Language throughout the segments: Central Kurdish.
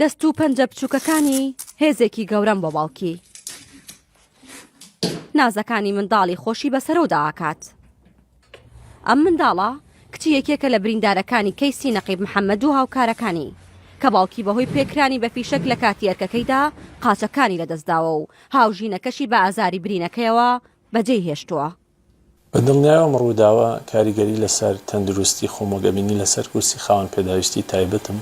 دەست و پەنجە بچووکەکانی هێزێکی گەورەم بۆ باوکی نازەکانی منداڵی خۆشی بەسەرەوەدا ئاکات ئەم منداڵە کچی یەکێکە لە بریندارەکانی کەیسی نەقیب محەممەد و هاوکارەکانی کە باوکی بەهۆی پێکرانی بە فیشەک لە کاتی ئەرکەکەیدا قاچەکانی لەدەستداوە و هاوژینەکەشی بە ئازاری برینەکەیەوە بەجێی هێشتووە بە دڵنیایەوە ئەم ڕووداوە کاریگەری لەسەر تەندروستی خۆم و گەبینی لەسەر کورسی خاوەن پێداویستی تایبەتم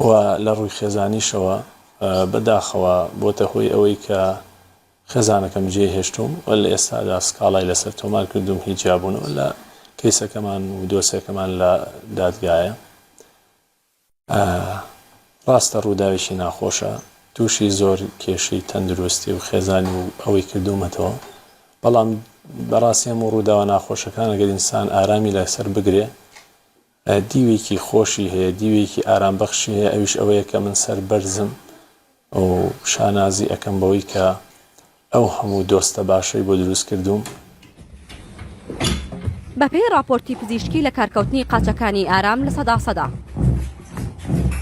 و لە ڕووی خێزانیشەوە بە داخەوە بۆتە هۆی ئەوەی کە خێزانەکەم جێ هێشتووم و لە ئێستادا سکاڵای لەسەر تۆمار کردووم هی جیابوونەوە لە کەیسەکەمان و دۆسێکەمان لە دادگایە. ڕاستە ڕووداوێکی ناخۆشە، تووشی زۆر کێشەی تەندروستی و خێزانی و ئەوەی کردوومەتەوە، بەڵام بەڕاستی هەموو ڕووداوە ناخۆشەکان ئەگەر ئینسان ئارامی لەسەر بگرێ دیوێکی خۆشی هەیە، دیوێکی ئارامبەخشی هەیە ئەویش ئەوەیە کە من سەربەرزم، و شانازی ئەکەم بەوەی کە ئەو هەموو دۆستە باشەی بۆ دروست کردووم. بەپێی ڕاپۆرتی پزیشکی لەکارکەوتنی قاچەکانی ئارام لە سەدا سەدا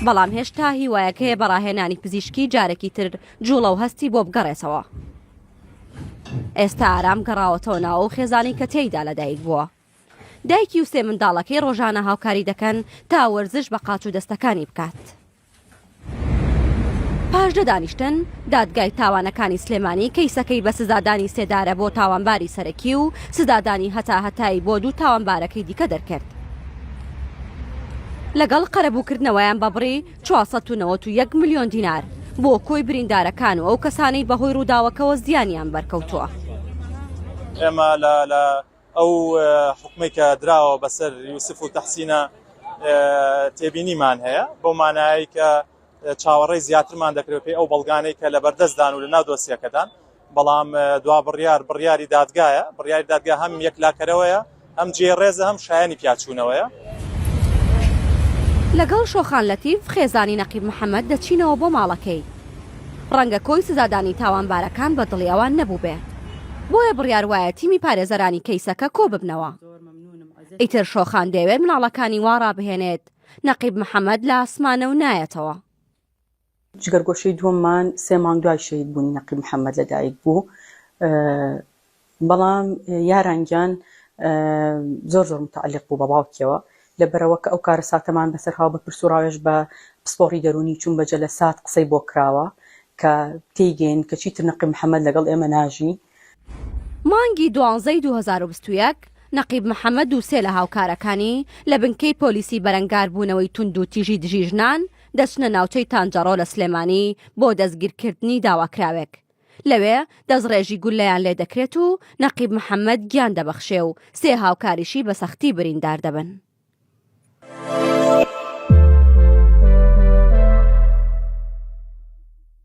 بەڵام هێشتا هیوایەکەیە بە ڕاهێنانی پزیشکی جارێکی تر جوڵە و هەستی بۆ بگەڕێتەوە ئێستا ئارام گەڕاوەتەوە ناوەو خێزانی کە تێیدا لەدایک بووە دایکی و سێ منداڵەکەی ڕۆژانە هاوکاری دەکەن تا وەرزش بە قاچ و دەستەکانی بکات. پاش دە دانیشتن، دادگای تاوانەکانی سلێمانی کەیسەکەی بە سزادانی سێدارە بۆ تاوانباری سەرەکی و سزادانی هەتاهەتایی بۆ دوو تاوانبارەکەی دیکە دەرکرد، لەگەڵ قەرەبووکردنەوەیان بە بڕی چوار سەد و نەوەد و یەک ملیۆن دینار بۆ کۆی بریندارەکان و ئەو کەسانەی بەهۆی رووداوەکەوە زیانیان بەرکەوتووە. ئێمە لە ئەو حوکمەی کە دراوە بەسەر یوسف و تەحسینە تێبینیمان هەیە بۆ مانایی کە چاوەڕێی زیاترمان دەکرێت پێی ئەو بەڵگانەی کە لە بەردەستدان و لە ناو دۆسیەکەدان بەڵام دوا بڕیار بڕیاری دادگایە بڕیاری دادگا هەم یەکلاکەرەوەیە ئەم جێ ڕێزە هەم شایانی پیاچوونەوەیە. لەگەڵ شۆخان لەتیف خێزانی نەقیب محەمەد دەچینەوە بۆ ماڵەکەی. ڕەنگە کۆی سزادانی تاوانبارەکان بە دڵی ئەوان نەبووبێ بۆیە بڕیار وایە تیمی پارێزەرانی کەیسەکە کۆ ببنەوە ئیتر شۆخان دەیەوێت مناڵەکانی وا ڕابهێنێت نەقیب محەمەد لە ئاسمانە و نایەتەوە. جگەرگۆشەی دووەممان سێ مانگ دوای شەهیدبوونی نەقیب محەمەد لەدایکبوو، بەڵام یاران گیان زۆر زۆر متعلق بوو بە باوکیەوە لەبەرەوە کە ئەو کارەساتەمان بەسەرهاو بە پرس و ڕاوێژ بە پسپۆڕی دەروونی چوون بە جەلەسات قسەی بۆ کراوە کە تێیگەین کە چیتر نەقیب محەمەد لەگەڵ ئێمە ناژی. مانگی دوانزەی دوو هەزار و بیست و یەک، نەقیب محەمەد و سێ لە هاوکارەکانی لە بنکەی پۆلیسی بەرەنگاربوونەوەی توندوتیژی دژی ژنان دەچنە ناوچەی تانجەڕۆ لە سلێمانی بۆ دەستگیرکردنی داواکراوێک لەوێ دەستڕێژی گوللەیان لێ دەکرێت و نەقیب محەممەد گیان دەبەخشێ و سێ هاوکاریشی بە سەختی بریندار دەبن.